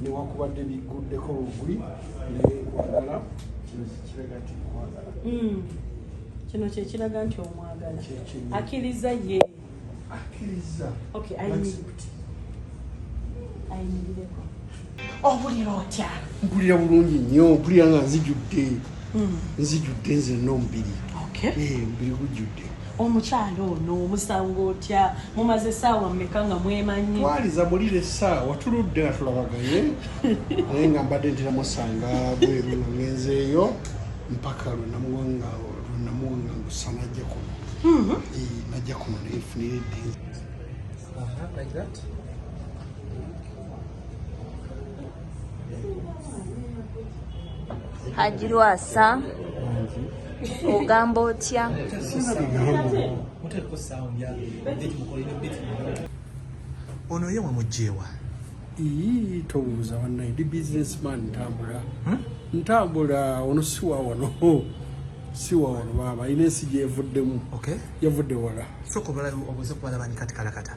newakubadde bigguddeko bugwi naye kwagala kino kiraga nti kwagala hmm. kino kyekiraga nti omwagala akiriza ye akiriza ayimirireko obulira otya mpulira bulungi nnyo mpulira nga nzijudde hmm. nzijudde nzenna omubiri eh, omubiri gujjudde Omukyala ono omusanga otya? Mumaze essaawa mmeka nga mwemanyi? Twaliza mulire essaawa tuludde nga tulabagaye naye nga mbadde ntera musanga bweru nga ngenzeeyo mpaka lwe namuwa nga lwe namuwa nga ngusa najja kuno mhm. najja kuno naye nfunire eddiini Haji Lwasa ogamba otya? Ono ye wamujewa? Ii tobuuza wanaye ndi businessman ntambula hmm? ntambula ono si wa wano si wa wano baaba ina ensi gyevuddemu okay. yavudde wala soka obala obuze kubalaba ni kati kalakata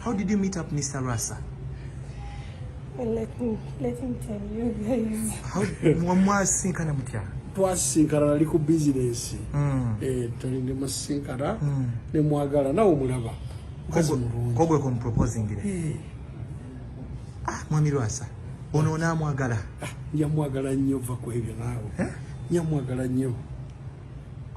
How did you meet up Mr. Rasa? Well, let me, let me tell you guys. How mwasinkana mutya? twasinkana nali ku bizinesi mm. eh, tali ne musinkana mm. ne mwagala nawe omulaba mukazi mulungi kogwe ku muproposingire eh. ah, mwami Rwasa ono onaamwagala ah, njamwagala nnyo va ku ebyo naawe eh? njamwagala nnyo